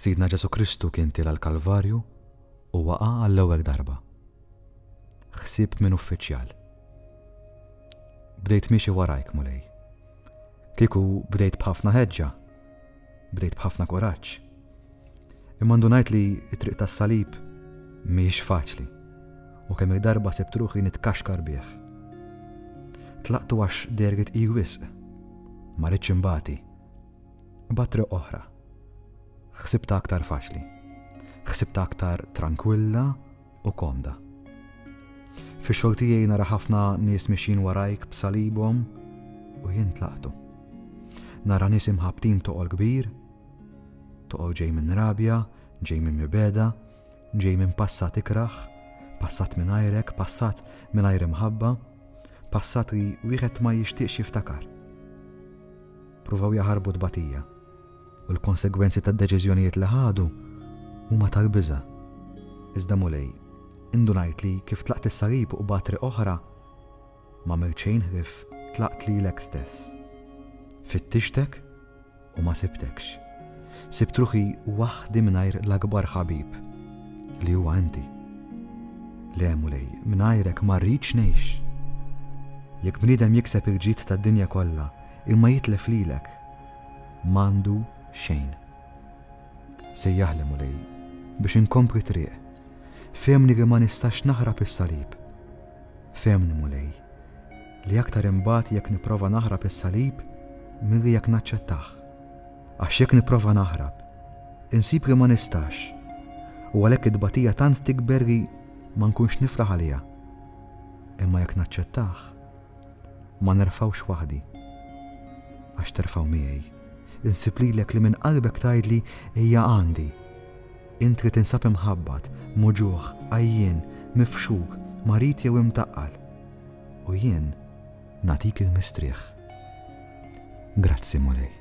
Sidna Ġesù Kristu kien tila' l-Kalvarju u waqa' għall-ewweg darba. Ħsieb minn uffiċjal. Bdejt miexi warajk, Mulej. Kieku bdejt b'ħafna ħeġġa, bdejt b'ħafna kuraġġ. Imma ndunajt li t-triq tas-salib mhijiex faċli u kemm il-darba sibt ruħi nitkaxkar bih. Tlaqtu għax dergit i wisq. Ma rridx imbati. Imbagħad triq oħra. Ħsibtha aktar faċli. Ħsibtha aktar trankwilla u komda. Fix-xogħol tiegħi nara ħafna nies mixin warajk b'salibhom u jien tlaqtu. Nara nies imħabtin toqol kbir, toqol ġej minn rabja, ġej minn mibeda, ġej minn passat ikraħ, passat minn ajrek, passat minn ajr imħabba, passat li wieħed ma jixtieqx jiftakar. Pruvaw jaħarbu t-tbatija, u l-konsegwenzi tad-deċiżjonijiet li ħadu huma tal-biża'. Iżda Mulej, indunajt li kif tlaqt is-salib u qbadt triq oħra, m'għamilt xejn ħlief tlaqt lilek stess. Fittixtek u ma sibtekx. Sibt ruħi waħdi mingħajr l-akbar ħabib li huwa inti. Le Mulej, mingħajrek ma rridx ngħix. Jekk bniedem jikseb il-ġid tad-dinja kollha, Imma jitlef lilek, m'għandu xejn. Sejjaħli Mulej biex inkompli triq, fehmni li ma nistax naħrab is-salib. Fehmni Mulej li aktar inbati jekk nipprova naħrab is-salib milli jekk naċċettah. Għax jekk nipprova naħrab, insib li ma nistax u għalhekk it-tbatija tant tikber li ma nkunx nifraħ għaliha. Imma jekk naċċettah, Ma nerfgħux waħdi, għax terfgħu miegħi. Insib lilek li minn qalbek tgħidli, Ejja għandi. Int li tinsab imħabbat, muġugħ, għajjien, mifxuk, marid jew imtaqqal. U jien nagħtik il-mistrieħ. Grazzi, Mulej.